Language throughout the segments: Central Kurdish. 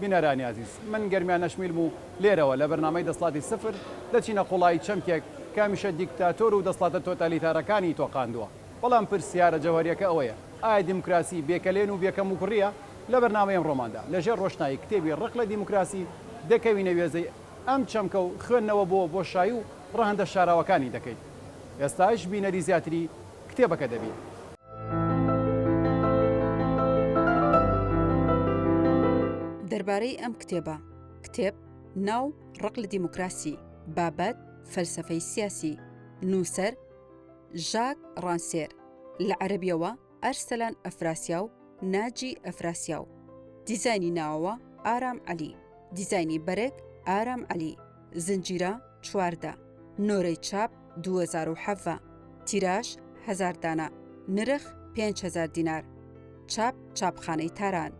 بینەرانی ئازیز من گەرمیان نەشمیلم و لێرەوە لە بەرنامەی دەسڵاتی سفر دەچینە قوڵایی چەمکێک کە هەمیشە دیکتاتۆر و دەسڵاتە تۆتالیتارەکانی تۆقاندووە بەڵام پرسیارە جەوهەریەکە ئەوەیە ئایا دیموکراسی بێ کەلێن و بێ کەموکوڕیە؟ لە بەرنامەی ئەمڕۆماندا لە ژێر ڕۆشنایی کتێبی ڕق لە دیموکراسی دەکەوینە وێزەی ئەم چەمکە و خوێندنەوە بۆ بۆشایی و ڕەهەندە شاراوەکانی دەکەین ئێستاش بینەری زیاتری کتێبەکە دەبینن. دەربارەی ئەم کتێبە، کتێب، ناو، ڕق لە دیموکراسی، بابەت، فەلسەفەی سیاسی، نووسەر، ژاک ڕانسێر، لە عەرەبییەوە، ئەرسەلان ئەفراسیاو، ناجی ئەفراسیاو، دیزاینی ناوەوە، ئارام عەلی، دیزاینی بەرگ، ئارام عەلی. زنجیرە، چواردە، نۆرەی چاپ، دووەزارو حەڤە، تیراژ، هەزار دانە، نرخ، پێنج هەزار دینار، چاپ، چاپخانەی تاران.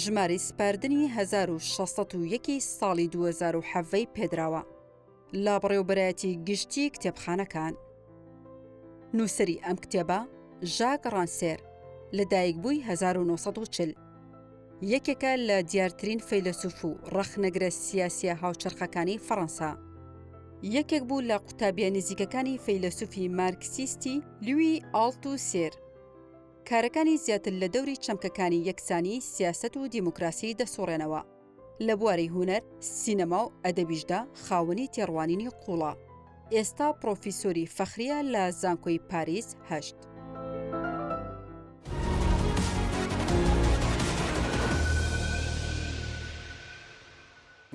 ژمارەی سپاردنی هەزار و شەش سەد و یەک ی ساڵی دووەزارو حەڤەی پێدراوە لە بەڕێوەبەرایەتی گشتی کتێبخانەکان. نووسەری ئەم کتێبە، ژاک ڕانسێر، لەدایکبووی هەزار و نۆ سەد و چل. یەکێکە لە دیارترین فەیلەسوف و ڕەخنەگرە سیاسیە هاوچەرخەکانی فەڕەنسا. یەکێک بوو لە قوتابیە نزیکەکانی فەیلەسوفی مارکسیستی لوی ئاڵت و سێر. کارەکانی زیاتر لە دەوری چەمکەکانی یەکسانی، سیاسەت و دیموکراسی دەسوڕێنەوە. لە بواری هونەر، سینەما و ئەدەبیشدا خاوەنی تێڕوانینی قووڵە. ئێستا پڕۆفیسۆری فەخرییە لە زانکۆی پاریس هەشت.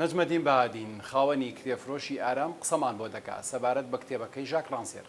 نەجمەدین بەهادین، خاوەنی کرێفرۆشی ئارام قسەمان بۆ دەکا سەبارەت بە کتێبەکەی ژاک ڕانسێر.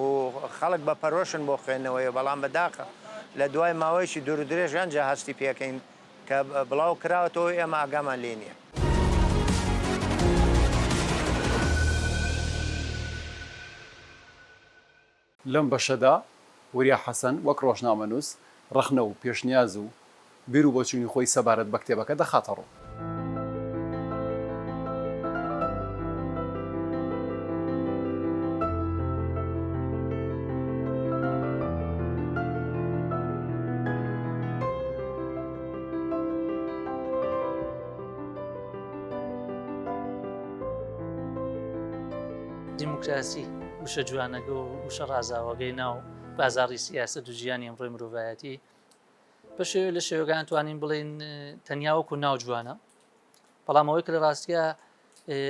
و خەڵک بە پەرۆشن بۆ خوێندنەوەی، بەڵام بە داخە لە دوای ماوەیەکی دوور و درێژ ئەنجا هەستی پێکەین کە بڵاو کراوەتەوە و ئێمە ئاگامان لێی نییە. لەم بەشەدا وریا حەسەن وەک ڕۆژنامەنووس ڕەخنە و پێشنیاز و بیر و بۆچوونی خۆی سەبارەت بە کتێبەکە دەخاتە ڕوو. دیموکراسی، وشە جوانەگە و وشە ڕازاوەگەی ناو بازاڕی سیاسەت و ژیانی ئەمڕۆی مرۆڤایەتی، بە شێوێ لە شێوەکان توانین بڵین تەنیا وەکو ناو جوانە بەڵام ئەوەی کە لە ڕاستە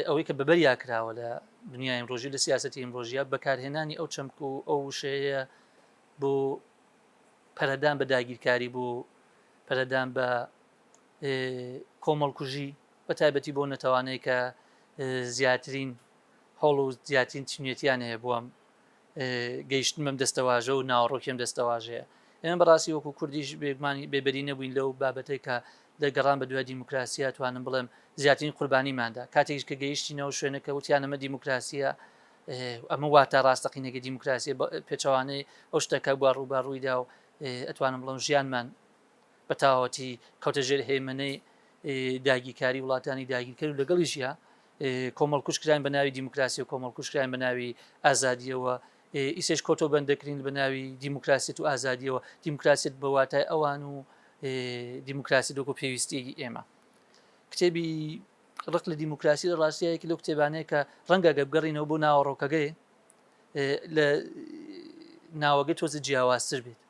ئەوەی کە بەبەریا کراوە لە دنیای ئەمڕۆژی لە سیاستی ئەمڕۆژیە بەکارهێنانی ئەو چەمک و ئەو شەیە بۆ پەرەدان بە داگیرکاری بۆ پەرەدان بە کۆمەڵکوژی بە تایبەتی بۆ نەتەوانەیە کە زیاترین هەوڵ و زیاترین چنیەتیان هەیە بووم گەیشتنمەم دەستەواژە و ناوەڕۆکیم دەستەواژەیە. ئێمە بە ڕاستی وەکو کوردیش بێگومان بێبەری نەبووین لەو بابەتەی کە لە گەڕان بە دوای دیموکراسییە توانم بڵێم زیاترین قوربانیمان دا. کاتێکیش کە گەیشتینە ئەو شوێنە کە وتیان ئەمە دیموکراسییە، ئەمە واتا ڕاستەقینەکەی دیموکراسییە، پێچەوانەی ئەو شتە کە بووە ڕووبەڕووی دا و ئەتوانم بڵێم ژیانمان بە تەواوەتی کەوتە ژێر هەیمەنەی داگیرکاری وڵاتانی داگیرکەر و لەگەڵیشیا کۆمەڵکوژ کراین بە ناوی دیموکراسی و کۆمەڵکوژ کراین بە ناوی ئازادیەوە ئیسش کۆتۆ بەندەکرین بە ناوی دیموکراسیت و ئازادیەوە دیموکراسیت بە واتای ئەوان و دیموکراسی دۆک و پێویستیەکی ئێمە کتێبی ڕق لە دیموکراسی لە ڕاستیەکی لەو کتێبانەیە کە ڕەنگە گە بگەڕینەوە بۆ ناوەڕۆکەکەی لە ناوەگە تۆزە جیاوازتر بێت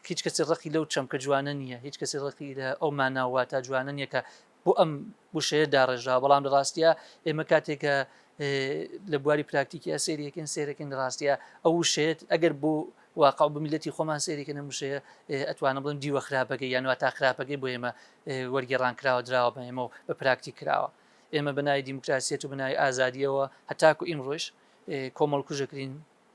هیچ کەسی ڕقی لەو چەمکە جوانە نییە هیچ کەسی ڕقی لە ئەو ماناوە تا جوانە نییە کە بۆ ئەم وشەیە داڕێژرا بەڵام لە ڕاستە ئێمە کاتێکە لە بواری پراکتیکیا سێریەکەن سێرەکەن لە ڕاستە ئەو وشەیەت ئەگەر بۆ واقع بە میلەتی خۆمان سێریکە نەموشەیە ئەتوانە بڵن دیوە خراپەکە یانوا تا خراپەکەی بۆ ئێمە وەرگێڕان کراوە دراوە بە ئێمە و بە پراکتی کراوە ئێمە بەنای دیموکراسیەت و بنای ئازادیەوە هەتاکو ئیم ڕۆژ کۆمەڵکوژەکرین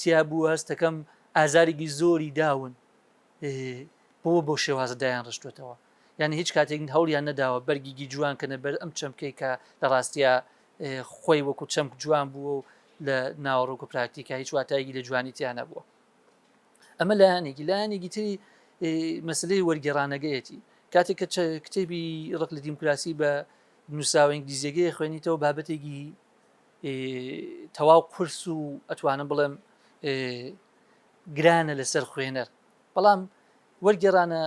تیا بوو هەستەکەم ئازارێکی زۆری داون بۆ بۆ شێوازە دایان ڕشتوێتەوە یعنی هیچ کاتێک هەوڵیان نەداوە بەرگیگی جوان کە نەبەر ئەم چەمکەی کە لە ڕاستە خۆی وەکو چەمک جوان بووە و لە ناوەڕۆک و پراکتیکە هیچ واتایگی لە جوانی تیان نەبووە ئەمە لایەنێکی لایەنێکی تری مەسلەی وەرگێڕانەگەیەتی کاتێک کە کتێبی ڕق لە دیموکراسی بە نووساوە ئینگلیزیەکەی خوێنیتەوە بابەتێکی تەواو قورس و ئەتوانم بڵێم گرانە لەسەر خوێنەر بەڵام وەرگێرانە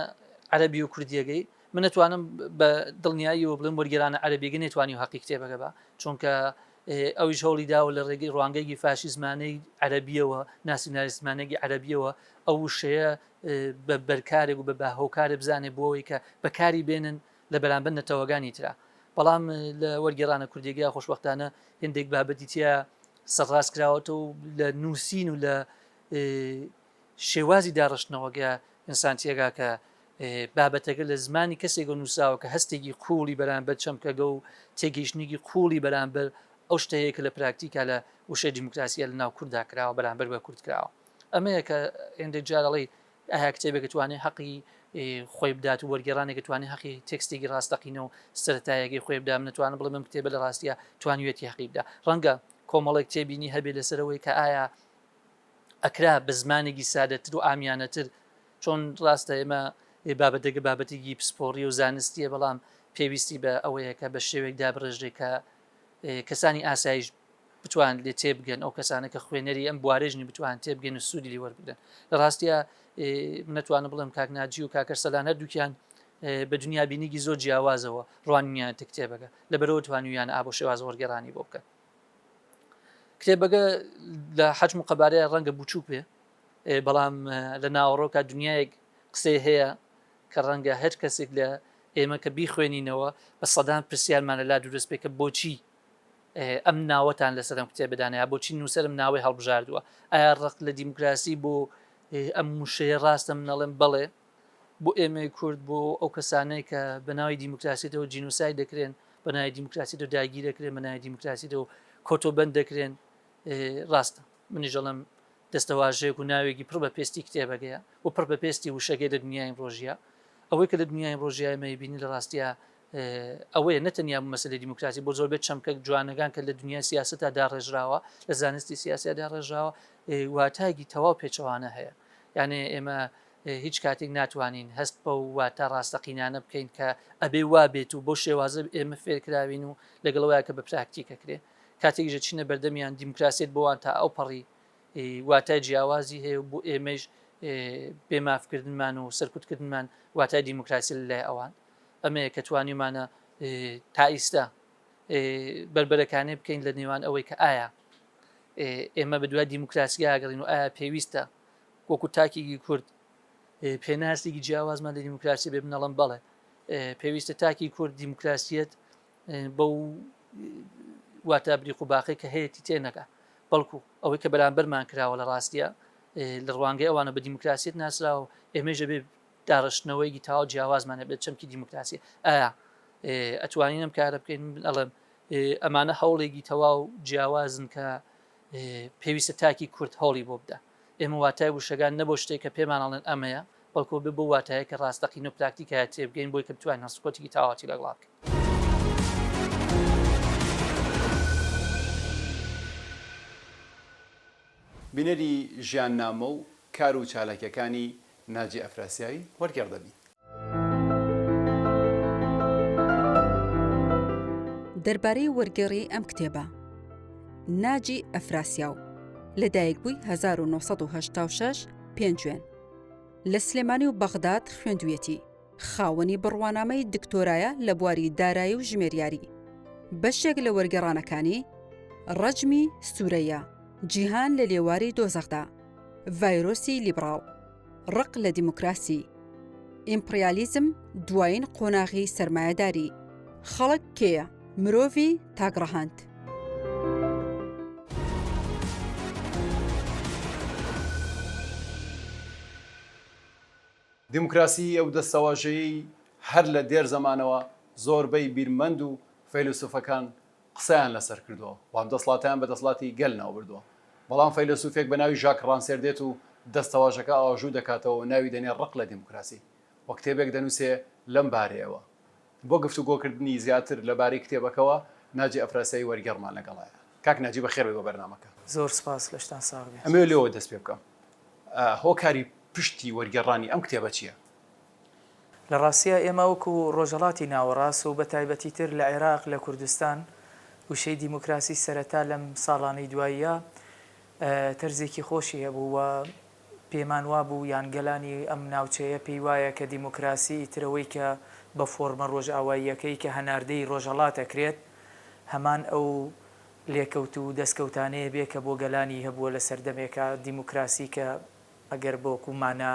عەربی و کوردیەکەی من نتوانم بە دڵنیاییەوە بڵێم وەرگێرانە عەربیگە نێتوانی و حەقی کتێبەکە بە چونکە ئەویش هەوڵی داوە لە ڕێگەی ڕوانگەیەکی فاشیزمانەی عەربیەوە ناسیونالیستمانێکی عەربیەوە ئەو وشەیە بە بەرکارێک و بە باهۆکارێ بزانێ بۆەوەی کە بەکاری بێنن لە بەرامبەر نەتەوەگانی ترا. بەڵام لە وەرگێڕانە کوردیەگەیا خۆشبەختانە هێندێک بابەتی تیا سەرڕاست کراوەتەو و لە نووسین و لە شێوازی داڕشتنەوەگەیا ئینسان تیەگا کە بابەتەگە لە زمانی کەسێگەو نووسراوە کە هەستێگی قووڵی بەرامبەر چەمکەگە و تێگەیشتنێگی قووڵی بەرامبەر ئەو شتە هەیە کە لە پراکتیکا لە وشەی دیموکراسیا لە ناو کورددا کراوە بەرامبەر بە کورد کراوە. ئەمەیە کە هێندێک جار ئەڵێی ئایا کتێبێک توانێ هەقی خۆی بدات و وەرگێڕانێک توانێ هەقی تێکستێکی ڕاستەقینە و سەرەتایەگەی خۆی بدا من نتوانم بڵێم کتێبە لە ڕاستیە توانیوێتی هەقی بدا ڕەنگە کۆمەڵێک تێبینی هەبێ لەسەرەوەی کە ئایا ئەکرا بە زمانێکی سادەتر و ئامیانەتر چۆن ڕاستە ئێمە بابەتەکە بابەتێکی پسپۆڕی و زانستیە بەڵام پێویستی بە ئەوەیە کە بە شێوێک دابڕێژرێ کە کەسانی ئاسایش بتوان لێ تێبگەن ئەو کەسانە کە خوێنەری ئەم بوارێژنی بتوان تێبگەن و سوودی وەربگرن لە ڕاستە منەتوانە بڵێم کاکناجی و کاکەر سەلان هەردووکیان بە دنیا بینیگی زۆر جیاوازەوە ڕوانیان تکتێبەکە لە بەرەوە توانویان ئابۆ شێواز وەرگێرانی بۆ بکەن کتێبەکە لە حەجم و قەبارەیە ڕەنگە بچووک بێ بەڵام لە ناوەڕۆکە دنیایەک قسەی هەیە کە ڕەنگە هەر کەسێک لە ئێمە کە بیخوێنینەوە بە سەدان پرسیارمان لە لا دروست بێت کە بۆچی ئەم ناوەتان لەسەر ئەم کتێبەدا نەیا بۆچی نووسەر ئەم ناوەی هەڵبژاردووە ئایا ڕق لە دیموکراسی بۆ ئەم وشەیە ڕاستە من ئەڵێم بەڵێ بۆ ئێمەی کورد بۆ ئەو کەسانەی کە بە ناوی دیموکراسیەوە جینوسای دەکرێن بە ناوی دیموکراسیەوە داگیر دەکرێن بە ناوی دیموکراسیەوە کۆتۆبند دەکرێن ڕاستە منیش ئەڵێم دەستەواژەیەک و ناوێکی پڕ بە پێستی کتێبەگەیە و پڕ بە پێستی وشەگەی لە دنیای ئیمڕۆژیا. ئەوەی کە لە دنیای ئیمڕۆژیا ئێمە ئەیبینین لە ڕاستیا ئەوەیە نە تەنیا مەسەلەی دیموکراسی بۆ زۆربەی چەمکە جوانەگان کە لە دنیای سیاسەتا داڕێژراوە، لە زانستی سیاسیا داڕێژراوە، واتایەکی تەواو پێچەوانە هەیە. یانێ ئێمە هیچ کاتێک ناتوانین هەست بەو واتا ڕاستەقینانە بکەین کە ئەبێ وا بێت و بەو شێوازە ئێمە فێرکراوین و لەگەڵ ئەوەیا کە بە پراکتیک ئەکرێ. کاتێکیش دەچینە بەردەمیان دیموکراسیەت بۆوان تا ئەو پەڕی واتای جیاوازی هەیە و بۆ ئێمەش بێ مافکردنمان و سەرکوتکردنمان واتای دیموکراسی لای ئەوان ئەمەیە کە توانیمانە تا ئیستا بربەرەکانێ بکەین لە نێوان ئەوەی کە ئایا ئێمە بە دوای دیموکراسیاگەڕین و ئایا پێویستە وەکو تاکیگی کورد پێناسێکی جیاوازمان لە دیموکراسی بێ بنەڵم بڵێ پێویستە تاکی کورد دیموکراسیت بەو واتە بریق و باقی کە هەیەی تێ نەگا بەڵکو ئەوەی کە بەرامبەرمان کراوە لە ڕاستە لە ڕوانگەی ئەوانە بە دیموکراسیت ناسراوە و ئێمەژە بێ داڕشتنەوەیگی تاوا جیاوازمانە بێت چەمکی دیموکراسی ئایا ئەتوانین ئەم کارە بکەین ئەڵێم ئەمانە هەوڵێکی تەواو جیاوازن کە پێویستە تاکی کورد هەوڵی بۆ بدە ئێمە واتای وشەگان نە بۆ شتێک کە پێمان ئەڵێن ئەمەیە، بەڵکۆ بێ بەو واتایە کە ڕاستەقینە و پراکتیکە هەیە تێبگەین بۆی کە بتوانین هەڵسوکەوتێکی تاواتی لەگڵا بکەین. بینەری ژیاننامە و کار و چالاکیەکانی ناجی ئەفراسیاوی وەرگێڕ دەبین. دەربارەی وەرگێڕی ئەم کتێبە. ناجی ئەفراسیاو، لەدایکبووی هەزار و نۆ سەد و هەشتا و شەش، پێنجوێن. لە سلێمانی و بەغداد خوێندوویەتی. خاوەنی بڕوانامەی دکتۆرایە لە بواری دارایی و ژمێریاری. بەشێک لە وەرگێڕانەکانی، ڕەجمی سورەیا، جیهان لە لێواری دۆزەخدا، ڤایرۆسی لیبڕاڵ، ڕق لە دیموکراسی، ئیمپڕیالیزم دوایین قۆناغی سەرمایەداری، خەڵک کێیە؟ مرۆڤی تاک ڕەهەند. دیموکراسی ئەو دەستەواژەیەی هەر لە دێر زەمانەوە زۆربەی بیرمەند و فەیلەسوفەکان قسەیان لەسەر کردووە و ئەم دەسڵاتەیان بە دەسڵاتی گەل ناوبردووە. بەڵام فەیلەسوفێک بە ناوی ژاک ڕانسێر دێت و دەستەواژەکە ئاژوو دەکاتەوە و ناوی دەنێ ڕق لە دیموکراسی و کتێبێک دەنووسێ لەم بارەیەوە. بۆ گفتوگۆکردنی زیاتر لە بارەی کتێبەکەوە ناجی ئەفراسیایی وەرگێڕمان لەگەڵایە. کاک ناجی بەخێربێی بۆ بەرنامەکە. زۆر سوپاس لەشتان ساغ بێت. ئەمەوێ لێوە دەست پێ بکەم هۆکاری پشتی وەرگێڕانی ئەم کتێبە چیە؟ لە ڕاستیا ئێمە وەکو ڕۆژهەڵاتی ناوەڕاست و بەتایبەتی تر لە عێراق لە کوردستان وشەی دیموکراسی سەرەتا لەم ساڵانەی دواییە تەرزێکی خۆشی هەبوو و پێمان وابوو یان گەلانی ئەم ناوچەیە پێی وایە کە دیموکراسی ئیتر ئەوەی کە بە فۆرمە ڕۆژئاواییەکەی کە هەناردەی ڕۆژهەڵات ئەکرێت هەمان ئەو لێکەوت و دەسکەوتانەیە بێ کە بۆ گەلانی هەبووە لە سەردەمێکا دیموکراسی کە ئەگەر بە وەکوو مانا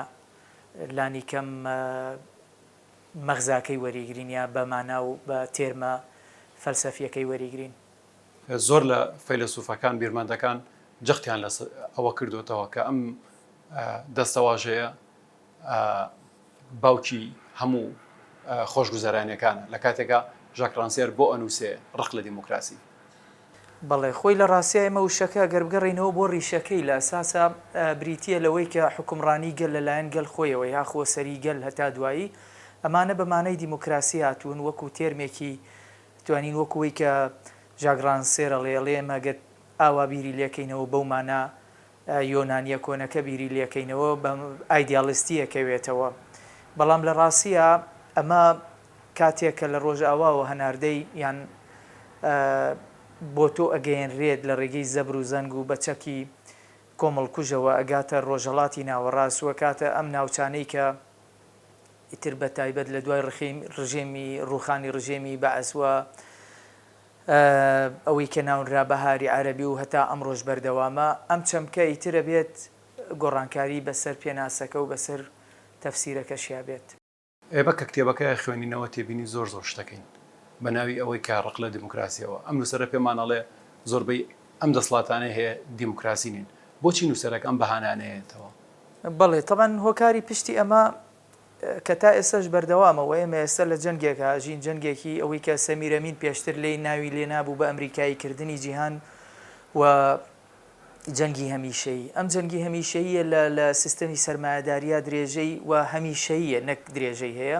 لانی کەم مەغزاکەی وەریگرین یا بە مانا و بە تێرمە فەلسەفییەکەی وەریگرین. زۆر لە فەیلەسوفەکان بیرمەندەکان جەختیان لە ئەوە کردوێتەوە کە ئەم دەستەواژەیە باوکی هەموو خۆشگوزەرانەکان لە کاتێکا ژاکرانسیەر بۆ ئەنووسێ ڕق لە دیموکراسی بەڵێ خۆی لە ڕاستای ئەمە وشەکە گەر بگەڕینەوە بۆ ڕیشەکەی لە ئەساسا بریتە لەوەی کە حکومڕانی گەل لەلایەن گەل خۆیەوە یاخۆ سەری گەل هەتا دوایی ئەمانە بە مانای دیموکراسی هاتوون وەکو تێرمێکی توانین وەکو وەی کە ژاک ڕانسێر ئەڵێ، ئەڵێ ئێمە گەر ئاوا بیری لێکەینەوە بەو مانا یۆنانیە کۆنەکە بیری لێکەینەوە بە ئایدیاڵیستی ئەکەوێتەوە بەڵام لە ڕاستیا ئەمە کاتێک کە لە ڕۆژئاواوە هەناردەی یان بۆ تۆ ئەگەیەنرێت لە ڕێگەی زەبر و زەنگ و بە چەکی کۆمەڵکوژەوە ئەگاتە ڕۆژهەڵاتی ناوەڕاست و ئەکاتە ئەم ناوچانەی کە ئیتر بەتایبەت لە دوای ڕژێمی ڕووخانی ڕژێمی بەعس و ئەوەی کە ناونرا بەهاری عەرەبی و هەتا ئەمڕۆش بەردەوامە، ئەم چەمکە ئیتر ئەبێت گۆڕانکاری بەسەر پێناسەکە و بەسەر تەفسیرەکەشیا بێت. ئێبە کە کتێبەکە خوێنینەوە تێبینی زۆر زۆر شتەکەین بە ناوی ئەوەی کە ڕق لە دیموکراسیەوە. ئەم نووسەرە پێمان ئەڵێ زۆربەی ئەم دەسڵاتانەی هەیە دیموکراسی نین. بۆچی نووسەرەک ئەم بەهانانە ئەیەتەوە؟ بەڵێ تەبعەن هۆکاری پشتی ئەمە کە تا ئێستاش بەردەوامە و ئێمە ئێستا لە جەنگێک ئاژین جەنگێکی ئەوەی کە سەمیر ئەمین پێشتر لێی ناوی لێ نابوو بە ئەمریکایی کردنی جیهان و جەنگی هەمیشەیی ئەم جەنگی هەمیشەییە لە لە سیستەمی سەرمایەداریا درێژەی و هەمیشەییە نەک درێژەی هەیە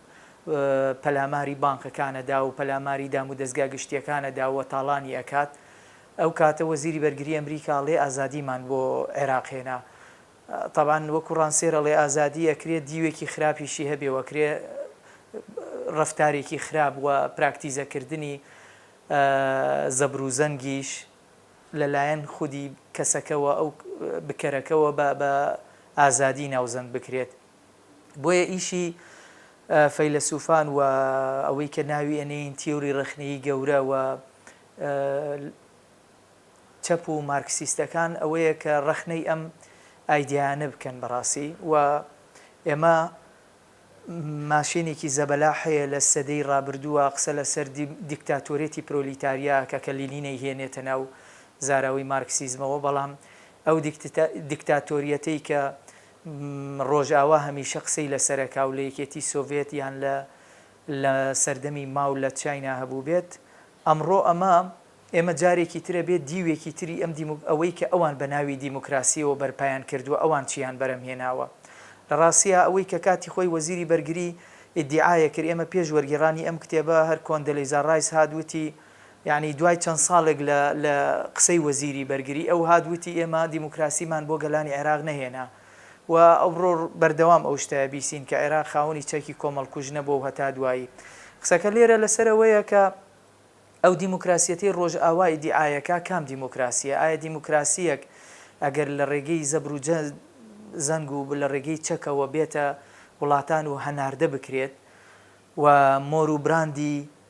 پەلاماری بانقەکانەدا و پەلاماری دام و دەزگا گشتیەکانەدا و تاڵانی ئەکات ئەو کاتە وەزیری بەرگری ئەمریکا ئەڵێ ئازادیمان بۆ عێراق هێنا تابان وەکو ڕانسێر ئەڵێ ئازادی ئەکرێ دیوێکی خراپیشی هەبێ وەکرێ ڕفتارێکی خراپ و پراکتیزەکردنی زەبروزەنگیش لەلایەن خودی کەسەکەەوە ئەو بکەرەکەەوە بە ئازادی ناوزەند بکرێت بۆیە ئیشی فەیلەسوفان و ئەوەی کە ناوی ئەنێین تیۆری ڕەخنەیی گەورە و چەپ و مارکسیستەکان ئەوەیە کە ڕەخنەی ئەم ئایدیایانە بکەن بەڕاستی و ئێمە ماشێنێکی زەبەلاح هەیە لە سەدەی ڕابردووە قسە لەسەر دیکتاتۆرێتی پرۆلیتاریا کە کە لینی نەیهێنێتە ناو زاراوەی مارکسیزمەوە بەڵام ئەو دیکتاتۆریەتەی کە ڕۆژئاوا هەمیشە قسەی لە سەرەکا و لە یەکێتی سۆڤێت یان لە لە سەردەمی ماو لە چاینا هەبووبێت، ئەمڕۆ ئەمە ئێمە جارێکی ترە بێ دیوێکی تری ئەم دیمو ئەوەی کە ئەوان بە ناوی دیموکراسیەوە بەرپایان کردووە ئەوان چیان بەرەم هێناوە. لە ڕاستیا ئەوەی کە کاتی خۆی وەزیری بەرگری ئیدیعایە کرد ئێمە پێش وەرگێڕانی ئەم کتێبە هەر کۆندەلیزا ڕایس هات وتی، یانی دوای چەند ساڵێک لە لە قسەی وەزیری بەرگری ئەو هات وتی ئێمە دیموکراسیمان بۆ گەلانی عێراق نەهێنا و ئەوڕۆ بەردەوام ئەو شتە بیسین کە عێراق خاوەنی چەکی کۆمەڵکوژ نەبوە و هەتا دوایی قسەکە لێرە لەسەر ئەوەیە کە ئەو دیموکراسیەتەی ڕۆژئاوا ئیدیعایەکا کام دیموکراسیە؟ ئایا دیموکراسیەک ئەگەر لە ڕێگەی زەبر و زەنگ و لە ڕێگەی چەکەوە بێتە وڵاتان و هەناردە بکرێت و مۆر و براندی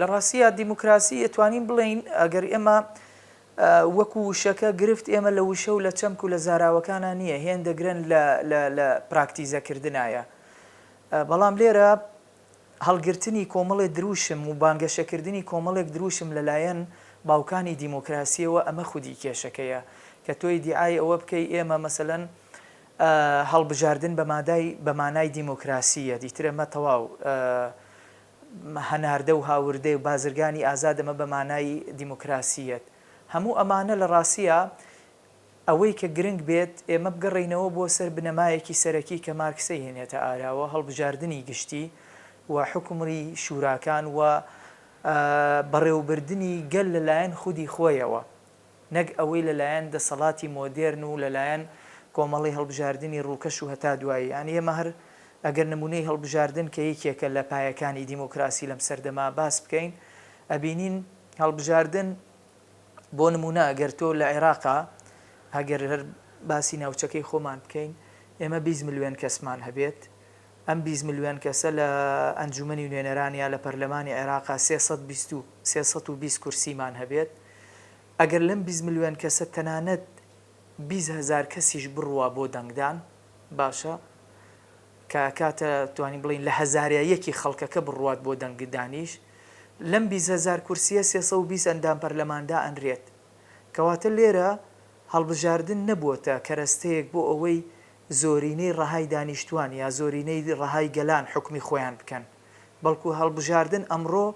لەڕاستیا دیموکراسی ئەتوانین بڵێین ئەگەر ئێمە وەکو وشەکە گرفت ئێمە لە وشە و لە چەمک و لە زاراوەکانا نییە هێندە گرن لە لە لە پراکتیزە کردنایە بەڵام لێرە هەڵگرتنی کۆمەڵێ دروشم و بانگەشە کردنی کۆمەڵێک دروشم لە لایەن باوکانی دیموکراسیەوە ئەمە خودی کێشەکەیە کە تۆ ئیدیعای ئەوە بکەی ئێمە مەسەلەن هەڵبژاردن بە مادای بە مانای دیموکراسی یە دیترە مە تەواو هەناردە و هاوردەی و بازرگانی ئازادە مە بە مانای دیموکراسی یەت هەموو ئەمانە لە ڕاستیا ئەوەی کە گرنگ بێت ئێمە بگەڕێینەوە بۆ سەر بنەمایەکی سەرەکی کە مارکسەی هێنێتە ئاراوە هەڵبژاردنی گشتی و حوکمڕی شوراکان و بەڕێوبردنی گەل لە لایەن خودی خۆیەوە. نەک ئەوەی لە لایەن دەسەڵاتی مۆدێرن و لە لایەن کۆمەڵەی هەڵبژاردنی ڕووکەش و هەتا دوایی. یانی ئێمە هەر ئەگەر نموونەی هەڵبژاردن کە یەکێکە لە پایەکانی دیمۆکراسی لەم سەردەمە باس بکەین ئەبینین هەڵبژاردن بۆ نموونە ئەگەر تۆ لە عێراقا ئەگەر هەر باسی ناوچەکەی خۆمان بکەین ئێمە بیست ملوێن کەسمان هەبێت، ئەم بیست ملیۆن کەسە لە ئەنجومەنی نوێنەران یا لە پەرلەمانی عێراقا سێ سەد بیست و سێ سەد و بیست کورسیمان هەبێت، ئەگەر لەم بیست ملیۆن کەسە تەنانەت بیست هەزار کەسیش بڕوا بۆ دەنگدان باشە کە ئەکاتە توانین بڵێین لە هەزاریا یەکی خەڵکەکە بڕوات بۆ دەنگدانیش لەم بیست هەزار کورسیە سێ سەد و بیست ئەندام پەرلەمان دائەنرێت کەواتە لێرە هەڵبژاردن نەبووەتە کەرەستەیەک بۆ ئەوەی زۆرینەی ڕەهای دانیشتوان یا زۆرینەی ڕەهای گەلان حوکمی خۆیان بکەن، بەڵکو هەڵبژاردن ئەمڕۆ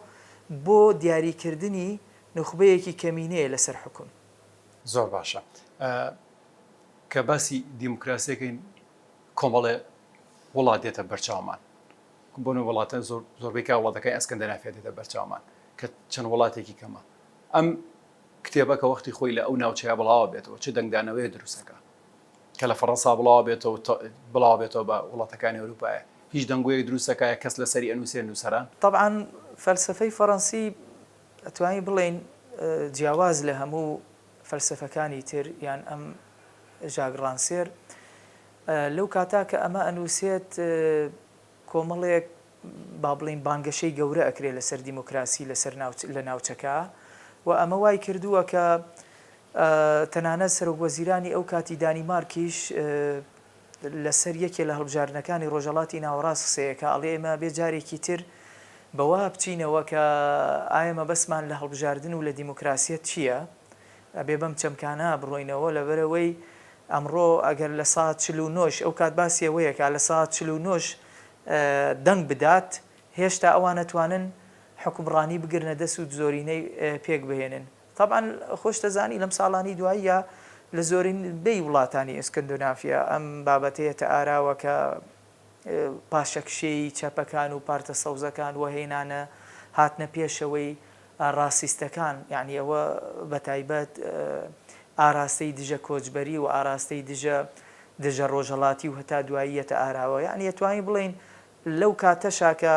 بۆ دیاریکردنی نوخبەیەکی کەمینەیە لەسەر حوکم. زۆر باشە کە باسی دیموکراسی ئەکەین کۆمەڵێ وڵات دێتە بەرچاومان بۆ نموونە وڵاتە زۆر زۆربەی کە وڵاتەکانی ئەسکەندەنافیا دێتە بەرچاومان کە چەند وڵاتێکی کەمە ئەم کتێبە کە وەختی خۆی لە ئەو ناوچەیە بڵاوە بێتەوە چ دەنگدانەوەیە دروست ئەکا کە لە فەڕەنسا بڵاوە بێتەوە و بڵاوە بێتەوە بە وڵاتەکانی ئەوروپایە هیچ دەنگۆیەک دروست نەکایە کەس لەسەری ئەنوسێ نوسەران. تەبعەن فەلسەفەی فەڕەنسی ئەتوانی بڵێین جیاواز لە هەموو فەلسەفەکانی تر یان ئەم ژاک ڕانسێر لەو کاتا کە ئەمە ئەنوسێت کۆمەڵێک با بڵێین بانگەشەی گەورە ئەکرێ لەسەر دیموکراسی لەسەر لە ناوچەکە و ئەمە وای کردووە کە تەنانەت سەرۆک وەزیرانی ئەو کاتی دانیمارکیش لەسەر یەکێ لە هەڵبژاردنەکانی ڕۆژەڵاتی ناوەڕاست قسەیەکە ئەڵێ ئێمە بێ جارێکی تر بەوا بچینەوە کە ئایا مەبەستمان لە هەڵبژاردن و لە دیموکراسیەت چییە؟ ئەبێ بەم چەمکانە بڕۆینەوە لەبەرەوەی ئەمڕۆ ئەگەر لە سا چلو نۆش ئەو کات باسی ئەوەیەکە لە سا چلو نۆش دەنگ بدات، هێشتا ئەوان ئەتوانن حوکمڕانی بگرنە دەست و زۆرینەی پێک بهێنن. تەبعەن خۆشت ئەزانی لەم ساڵانەی دواییە لە زۆرینبەی وڵاتانی ئێسکەندۆنافیا ئەم بابەتە یەتە ئاراوە کە پاشەکشێی چەپەکان و پارتە سەوزەکان و هێنانە هاتنە پێشەوەی ڕاسیستەکان، یانی ئەوە بەتایبەت ئاراستەی دژە کۆچبەری و ئاراستەی دژە دژە ڕۆژهەڵاتی و هەتا دوایی یەتە ئاراوە، یانی ئەتوانین بڵێین لەو کاتەشا کە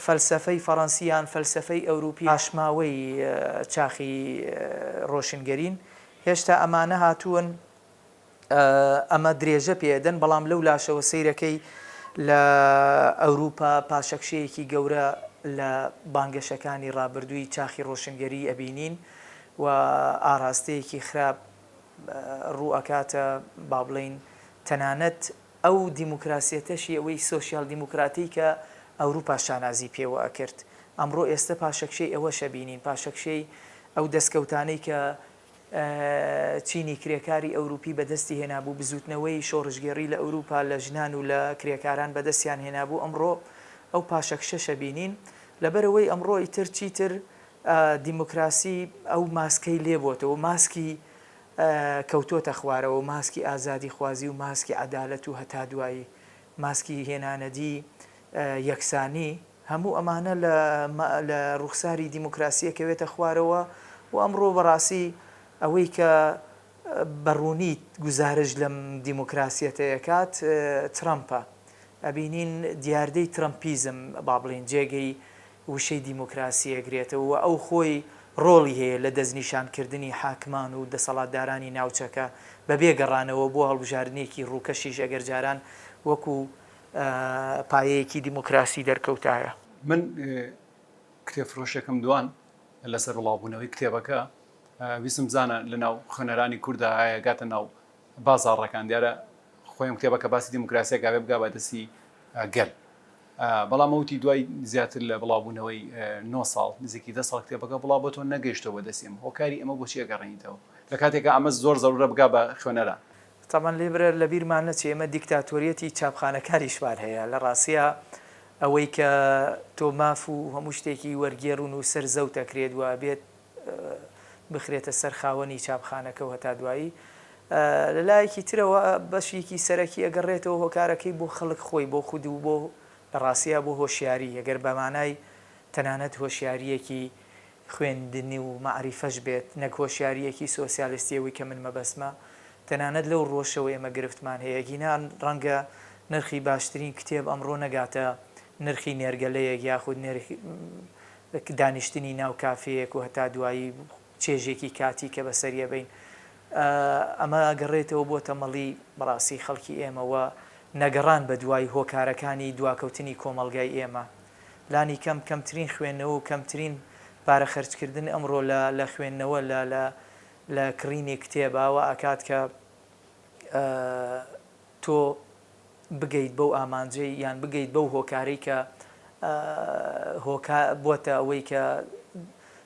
فەلسەفەی فەڕەنسی یان فەلسەفەی ئەوروپی پاشماوەی چاخی ڕۆشنگەرین، هێشتا ئەمانە هاتوون ئەمە درێژە پێ ئەدەن، بەڵام لەو لاشەوە سەیرەکەی لە ئەوروپا پاشەکشەیەکی گەورە لە بانگەشەکانی ڕابردووی چاخی ڕۆشنگەریی ئەبینین و ئاراستەیەکی خراپ ڕوو ئەکاتە با بڵێین تەنانەت ئەو دیموکراسیەتەشی ئەوەی سۆسیال دیموکراتی کە ئەوروپا شانازی پێوە ئەکرد ئەمڕۆ ئێستە پاشەکشەی ئەوەش ئەبینین پاشەکشەی ئەو دەسکەوتانەی کە چینی کرێکاری ئەوروپی بەدەستی هێنابوو، بزووتنەوەی شۆڕشگێڕی لە ئەوروپا لە ژنان و لە کرێکاران بەدەستیان هێنابوو، ئەمڕۆ ئەو پاشەکشەشە بینین، لەبەرئەوەی ئەمڕۆ ئیتر چیتر دیموکراسی ئەو ماسکەی لێ بۆتەوە، ماسکی کەوتۆتە خوارەوە، ماسکی ئازادیخوازی و ماسکی عەدالەت و هەتا دوایی، ماسکی هێنانەدی یەکسانی. هەموو ئەمانە لە ڕوخساری دیموکراسی ئەکەوێتە خوارەوە و ئەمڕۆ بەڕاستی ئەوەی کە بە ڕوونی گوزارش لەم دیموکراسیەتە ئەکات ترەمپە. ئەبینین دیاردەی ترەمپیزم با بڵێین جێگەی وشەی دیموکراسی ئەگرێتەوە و ئەو خۆی ڕۆڵی هەیە لە دەستنیشان کردنی حاکمان و دەسەڵاتدارانی ناوچەکە بەبێ گەڕانەوە بۆ هەڵبژاردنێکی ڕووکەشیش ئەگەر جاران وەکو پایەیەکی دیموکراسی دەرکەوتایە. من کتێب فرۆشێکم دوان لەسەر بڵاوبوونەوەی کتێبەکە ویستم بزانە لە ناو خوێنەرانی کورددا ئایا گاتە ناو بازاڕەکان دیارە خۆی ئەم کتێبەکە باسی دیموکراسیە گاوێ بگا بە دەستی گەل بەڵام ئەوتی دوای زیاتر لە بڵاوبوونەوەی نۆ ساڵ نزیکی دە ساڵ کتێبەکە بڵاو بۆ تۆ نەگەیشتەوە بەدەستیم هۆکاری ئەمە بۆچی ئەگەڕێنیتەوە لە کاتێکە ئەمە زۆر زەرورە بگا بە خوێنەران تەبعەن لێبرێ لە بیرمان نەچێ ئێمە دیکتاتۆریەتی چاپخانەکاریشمان هەیە لە ڕاستیا ئەوەی کە تۆ ماف و هەموو شتێکی وەرگێڕ و نووسەر زەوت ئەکرێت و ئەبێت بخرێتە سەر خاوەنی چاپخانەکە و هەتا دوایی لە لایەکی ترەوە بەشێکی سەرەکی ئەگەڕێتەوە هۆکارەکەی بۆ خەڵک خۆی بۆ خود و بۆ لە ڕاستیا بۆ هۆشیاری ئەگەر بە مانای تەنانەت هۆشیارییەکی خوێندنی و مەعریفەش بێت، نەک هۆشیارییەکی سۆسیالیستی ئەوەی کە من مەبەستمە، تەنانەت لەو ڕووەشەوە ئێمە گرفتمان هەیە، گینا ڕەنگە نرخی باشترین کتێب ئەمڕۆ نەگاتە نرخی نێرگەلەیەک یاخود نرخی دانیشتنی ناو کافێیەک و هەتا دوایی چێژێکی کاتی کە بەسەری ئەبەین ئەمە ئەگەڕێتەوە بۆ تەمەڵی بەڕاستی خەڵکی ئێمە و نەگەڕان بەدوای هۆکارەکانی دواکەوتنی کۆمەڵگای ئێمە. لانیکەم کەمترین خوێندنەوە و کەمترین پارە خەرجکردن ئەمڕۆ لە لە خوێندنەوە لە لە لە کڕینی کتێبە وا ئەکات کە تۆ بگەیت بەو ئامانجەی یان بگەیت بەو هۆکارەی کە هۆکار بۆتە ئەوەی کە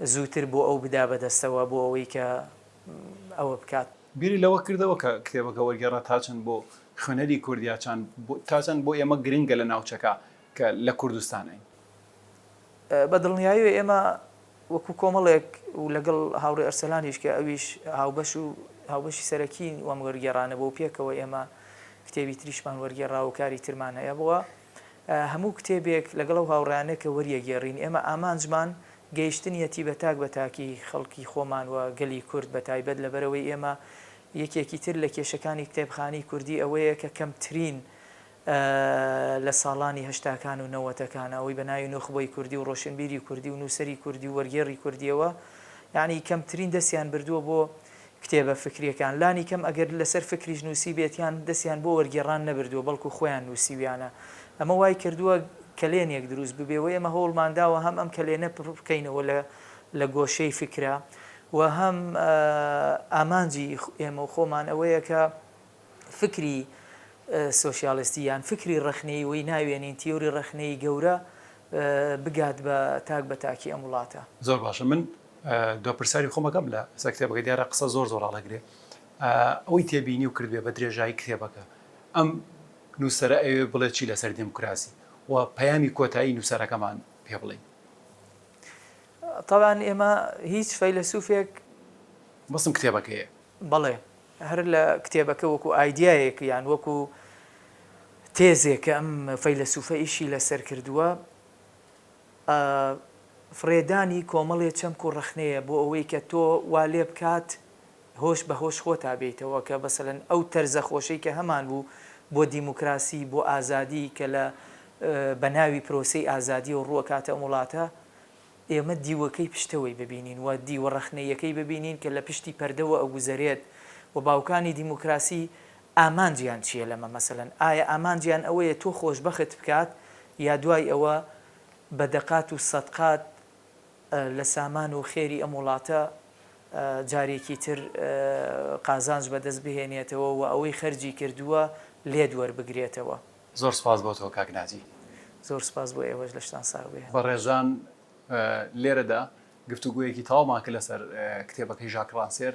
زووتر بۆ ئەو بدا بەدەستەوە بۆ ئەوەی کە ئەوە بکات. بیری لەوە کردەوە کە کتێبەکە وەرگێڕە تا چەند بۆ خوێنەری کورد یا چان بۆ تا چەند بۆ ئێمە گرنگە لە ناوچەکە کە لە کوردستانین؟ بە دڵنیایەوە ئێمە وەکوو کۆمەڵێک و لەگەڵ هاوڕێ ئەرسەلانیش کە ئەویش هاوبەش و هاوبەشی سەرەکین وەم وەرگێڕانە بۆ پێکەوە ئێمە کتێبی تریشمان وەرگێڕا و کاری ترمان هەیە بووە. هەموو کتێبێک لەگەڵ ئەو هاوڕێیانە کە وەریەگێڕین، ئێمە ئامانجمان گەیشتنیەتی بە تاک بە تاکی خەڵکی خۆمان و گەلی کورد بە تایبەت، لەبەرئەوەی ئێمە یەکێکی تر لە کێشەکانی کتێبخانەی کوردی ئەوەیە کە کەمترین لە ساڵانی هەشتاکان و نەوەتەکان ئەوەی بە ناوی نوخبەی کوردی و ڕۆشنبیری کوردی و نووسەری کوردی و وەرگێڕی کوردیەوە یانی کەمترین دەستیان بردووە بۆ کتێبە فکرییەکان، لانی کەم ئەگەر لەسەر فکریش نووسیبێت یان دەستیان بۆ وەرگێڕان نەبردووە بەڵکو خۆیان نووسیویانە. ئەمە وای کردووە کەلێنێک دروست ببێ و ئێمە هەوڵمان داوە هەم ئەم کەلێنە پر بکەینەوە لە لە گۆشەی فکرە و هەم ئامانجی ئێمە و خۆمان ئەوەیە کە فکری سۆشیالستی یان فکری ڕەخنەیی وەی ناوێنین تیۆری ڕەخنەیی گەورە بگات بە تاک بە تاکی ئەم وڵاتە. زۆر باشە من دوا پرسیاری خۆم ئەکەم لە سەر کتێبەکە دیارە قسە زۆر زۆر ڕاڵەگرێ ئەوەی تێبینی و کردێ بە درێژایی کتێبەکە ئەم نووسەرە ئەوێ بڵێ چی لەسەر دێموکراسی و پەیامی کۆتایی نووسەرەکەمان پێ بڵێین طبعا ئێمە هیچ فەیلەسوفێک بەسم کتێبەکەیە بەڵێ هەر لە کتێبەکە وەکو ئایدایەک یان وەکو تێزێکە ئەم فەیلەسوفە ئیشی لەسەر کردووە ئە فڕێدانی کۆمەڵێ چەمک و ڕەخنەیە بۆ ئەوەی کە تۆ وا لێ بکات هۆش بە هۆش خۆتا بێیتەوە کە مەسەلەن ئەو تەرزە خۆشەی کە هەمان بوو بۆ دیموکراسی بۆ ئازادی کە لە بە ناوی پرۆسەی ئازادیەوە ڕووەکاتە ئەم وڵاتە ئێمە دیوەکەی پشتەوەی ببینین و دیوە ڕەخنەییەکەی ببینین کە لە پشتی پەردەوە ئەگوزەرێت و باوکانی دیموکراسی ئامانجیان چیە لەمە مەسەلەن ئایا ئامانجیان ئەوەیە تۆ خۆشبەخت بکات یا دوای ئەوە بە دەقات و سەدقات لە سامان و خێری ئەم وڵاتە جارێکی تر قازانج بەدەست بهێنێتەوە و ئەوەی خەرجی کردووە لێت وەربگرێتەوە. زۆر سوپاس بۆ تۆ کاک ناجی. زۆر سوپاس بۆ ئێوەش لەشتان ساغ بێ. بەڕێزان لێرەدا گفتوگۆیەکی تەواومان کرد لەسەر کتێبەکەی ژاک ڕانسێر.